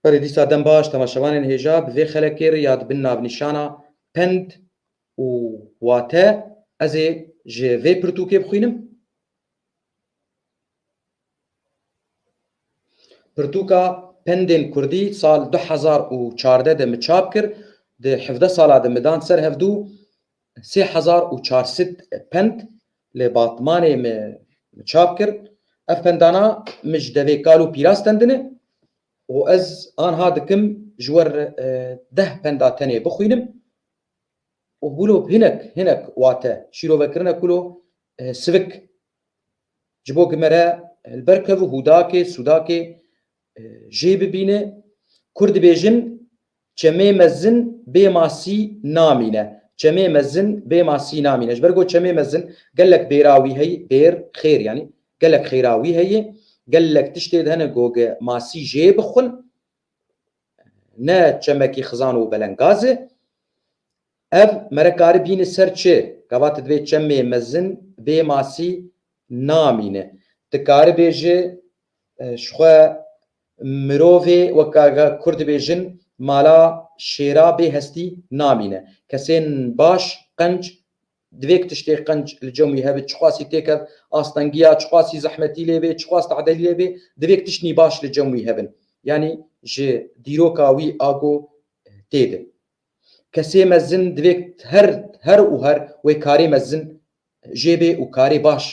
Berê dîsa dem baş temaşevanên hêja bi vê xelekê re ya dibin navnîşana Pend û Wate ez ê ji vê pirtûkê bixwînim. Pirtûka Pendên Kurdî sal du hezar û çardeh de min çap kir, di hevdeh sala de min dan ser hevdû Sê hezar û çar sed pend li Batmanê me çap kir. Ev pendana min ji devê kal û pîra stendine û ez anha dikim ji wer deh penda tenê bixwînim û wilo hinek hinek wate şîrovekirine kulo sivik ji bo ku me re li ber kevû hûdakê sûdakê Jê bibîne Kur dibêjin Çemê mezin bê masî namîne Çemê mezin bê masî namîne Ji ber ku çemê mezin gelek bêra wî heye bêr, xêr yanî gelek xêra wî heye Gelek tiştê di hene ku ge masî jê bixwin ne çemekî xizan û belengaz e Ev mere karî bîne ser çi? Gava ti divê çemê mezin bê masî namîne. Ti karî bêji ji xwe mirovê weka kurd dibêjin mala şêra bê hestî namîne. Kesên baş qenc divê ku tiştê qenc li cem wî hebe çiqasî têkeve astengiya, çiqasî zehmetî lê bê, çiqas tedelî lê bê divê tiştî baş li cem wî hebin. Yanî ji dîroka wî ago têde. Kesê mezin divê her her û her wê karê mezin jê bê û karê baş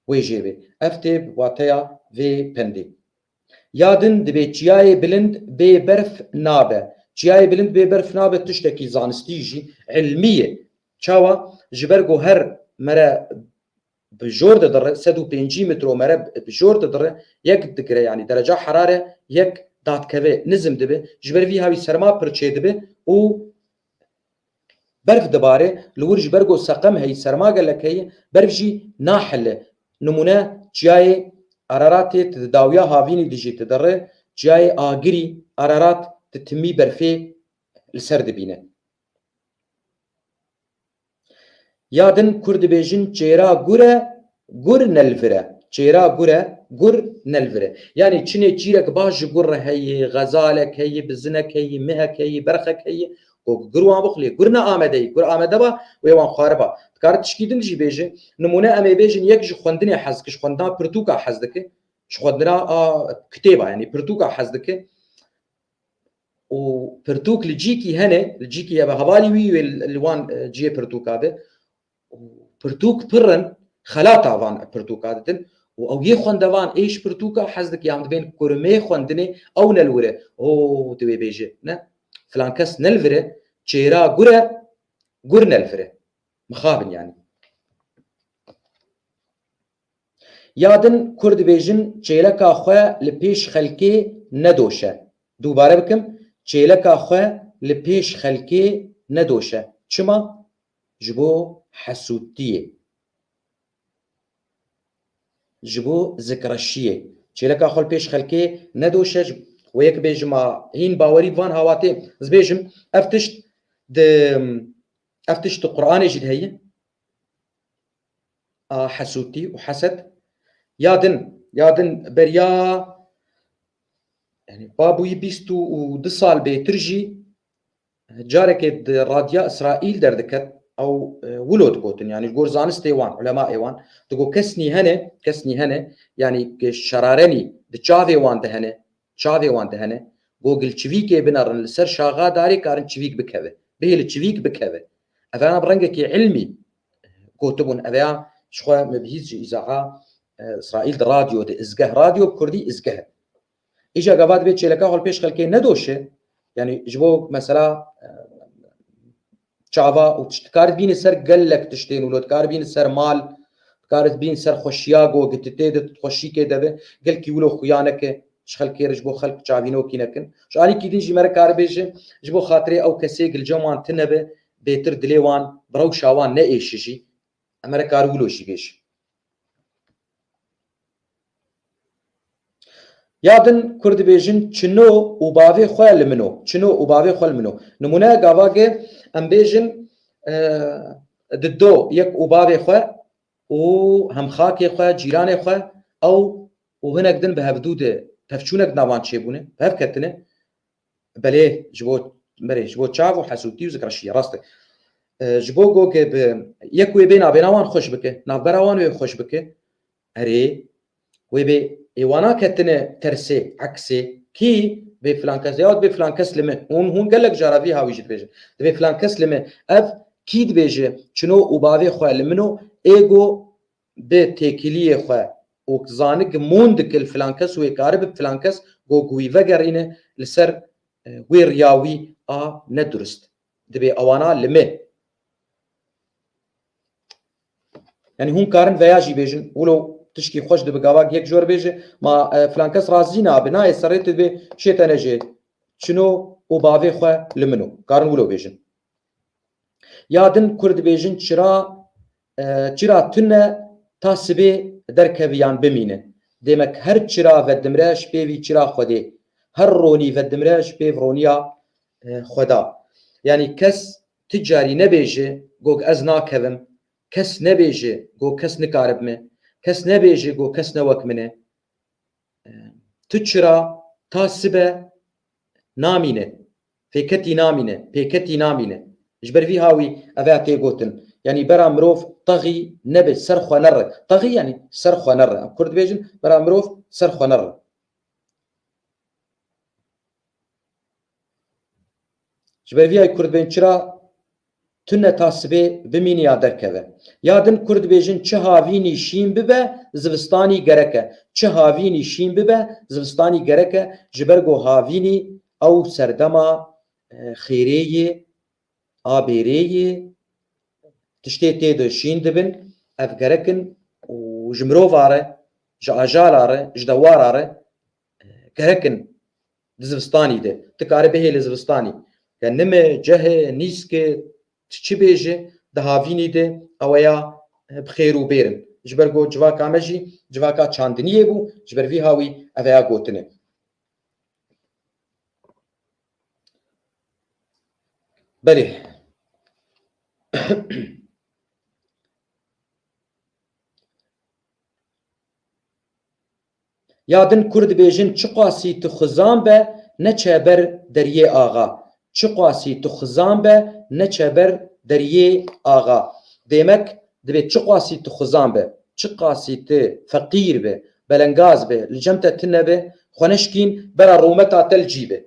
wê jê bê. Ev tê bi wateya vê pendê. Ya din divê çiyayê bilind bê berf nabe. Çiyayê bilind bê berf nabe tiştekî zanistî jî, îlmî ye. Çawa? Ji ber ku her mere bi jor didirin sed û pêncî mitromere bi jor didirin yek digire yanî dereca herare yek dadkeve nizm dibe ji ber vî ha wî serma pir çêdibe û berf dibare li wir ji ber ku seqem heyî serma gelek heye berf jî nahile nimûne çiyayê Araratê tu di dawiya havînî de jî didiri çiyayê Agirî Ararat di timî berfê li ser dibîne. Ya din Kurd dibêjin çêra gur e, gur nelvir e. Çêra gur e, gur nelvir e. Yanî çinê çîrek baş ji gur re heye, xezalek heye, bizinek heye, mihek heye, berxek heye. Gog gur wan bixwe lê gur ne amede ye. Gur amede ba wê wan xwariba. Dikare tişkî din jî bêje. Nimûne em ê bêjin yek ji xwendinê hez dike, ji xwendina pirtûka hez dike, ji xwendina kitêba yanî pirtûka hez dike. û pirtûk li cîkî hene, li cîkî heve hevalî wî wê li wan e, ciyê pirtûka de û pirtûk pir in xelata van pirtûka ditin û ew yê xwendevan ê ji pirtûka hez dike yan divên kurimê xwendinê ew nelwire o divê bêje ne filan kes nelvire çêra gur e gur nelvire mixabin yanî Ya din kur dibêjin çêleka xwe li pêş xelkê nedoşe. Dubare bikim, çêleka xwe li pêş xelkê nedoşe. Çima? Ji bo hesûdtiyê. Ji bo zikreşiyê. Çêleka xwe li pêş xelkê nedoşe. Wê yek bêjim a hîn bawerî bi van hawatê zibêjim. Ev tişt di ev tişt di Quranê jî de heye. a hesûtî û heset ya din ya din beriya yani babûyî bîst û du sal bêtir jî carekê di radya Îsraîl derdiket ew wilo digotin yani ji gor zanistê wan ulemaê wan digot kes nî hene kes nî hene yanî şerarenî di çavê wan de hene Çavê wan dihene, gogil çivîkê binerin li ser şaxa darê karin çivîk bikeve. Bihê li çivîk bikeve. Eveyan bi rengekî ilmî gotibûn. Eveyan ji xwe me bi hîs ji îzaha Îsraîl di radyo de izgeh, radyo bi kurdî izgeh e. Îja gava divê çêleka holpêş xelkê nedoşe, yanî ji bo mesela Çava û tişt dikarit bîne ser gelek tiştên wilo dikar bîne ser mal, dikarit bîne ser xweşiya go gititê de tutxweşîkê de be. Gelkî wilo xuya neke ji xelkê re ji bo xelk çavînokî nekin. Ji alîkî din jî me rikaribêje ji bo xatirê ew kesê gilcen wan tine be bêtir dilê wan bi rewşa wan neêşijî. Em me rikari wilo jî bêje. Ya din kur dibêjin çino û bavê xwe li min o. Çino û bavê xwe li min o. Nimûneya gavagê em bêjin di do yek û bavê xwe û hemxakê xwe, cîranê xwe ew û hinek din bi hevdû de tevçûnek di navan çêbûne, bi hev ketine. Belê ji bo berê ji bo çav û hesûtî û zikreşîyê rast e. Ji bo go ke bi yek wê bê navbêra wan xweş bike, navbera wan wê xweş bike erê wê bê ê wana ketine tersê, eksê kî bê filan kes ya dibê filan kes li me hûn hûn gelek cara vî hawî jî dibêjin dibê filan kes li me ev kî dibêje çino û bavê xwe li min o ê go Di têkiliyê xwe ok zanik mûn dikil filankes wê kari bi filankes go guwî vegerîne li ser wê riya wî a ne durist dibê awana li me. Yanî hûn karin veya jî bêjin wilo tişkî xweş dibi gavak yek jor bêje ma filankes razî nabi nayê serê tu dibê şê te nejê çino û bavê xwe li min o karin wilo bêjin. Ya din kur dibêjin çira Çira tune ta sibê derkeve yan bimîne. Dêmek her çira vedimre ji pêvî çira Xwedê. Her ronî vedimre ji pêv roniya Xweda. Yanî kes ti carî nebêje gog ez nakevim, kes nebêje gog kes nikaribme, kes nebêje gog kes ne wek mine. Tu çira ta sibe namîne. Pêketî namîne, pêketî namîne. Ji ber vî hawî ev ea tê gotin. Yanî bera mirov texî nebe ser xwe nere. Texî yanî ser xwe nere. Em kurd dibêjin bera mirov ser xwe nere. Ji ber vî hawî kurd bên çira Tune ta sibê bimîne ya derkeve. Ya din Kurd dibêjin çi havînî şîn bibe zivistanî gerek e. Çi havînî şîn bibe zivistanî gerek e ji ber ku havînî ew serdema xêrê yê, a bêrê yê, tiştê tê de şîn dibin, ev gerek in û ji mirova re, ji ajala re, ji dewara re gerek in. Di zivistanî de tu karî bihê li zivistanî ke nime, cehê, nîske tu çi bê jî di havînî de ew ya bi xêr û bêr in. Ji ber ku civaka me jî civaka çandiniyê bû ji ber vî hawî ev ya gotin e. Belê Ya din kur dibêjin çiqasî tu xizan be ne çeber Deryê Axa Çiqasî tu xizan be ne çeber Deryê Axa Demek dibê çiqasî tu xizan be, çiqasî tu feqîr be, belengaz be, li cem te tune be, xwe neşkîn bera rûmeta te li cî be.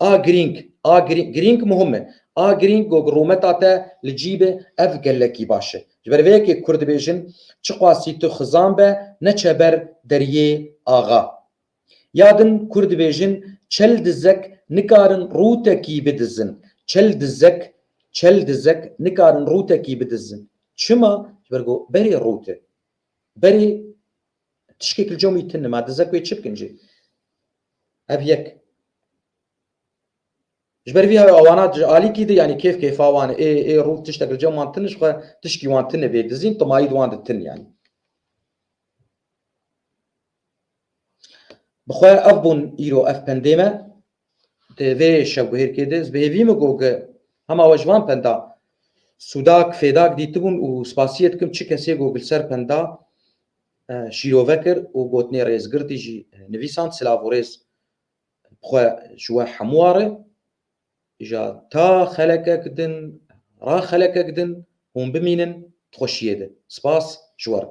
A girîng, a girîng, girîng muhim e. A girîng gog rûmeta te li cî be, ev gelekî baş e. Ji ber vê yekê Kurd dibêjin, Çiqasî tu xizan be, neçe ber deriyê axa. Ya din Kurd dibêjin, Çel dizek nikarin rûtekî bidizin. Çel dizek, çel dizek nikarin rûtekî bidizin. Çima? Ji ber ku berê rût e. Berê tişkek li comî tune, ma dizek wê çi bikin jê? Ev yek. Ji ber vî ew awana ji alîkî de yanî kêf kêfa wan ê ê rû tiştek li cem wan tune jixwe tişkî wan tune vê dizîn timayî di wan de tune yanî. Bixwe ev bûn îro ev pendê me di vê şevguhêrkê de ez bi hêvî min got ki hema we ji van penda sûdak fêdak dîtibûn û spasiyê dikim çi kesê got li ser penda şîrove kir û gotinê Rêzgirtî jî nivîsand, silav û rêz bi xwe ji we hemû wa re, îja ta xelekek din, ra xelekek din hûn bimînin di xweşiyê de. Spas ji we re.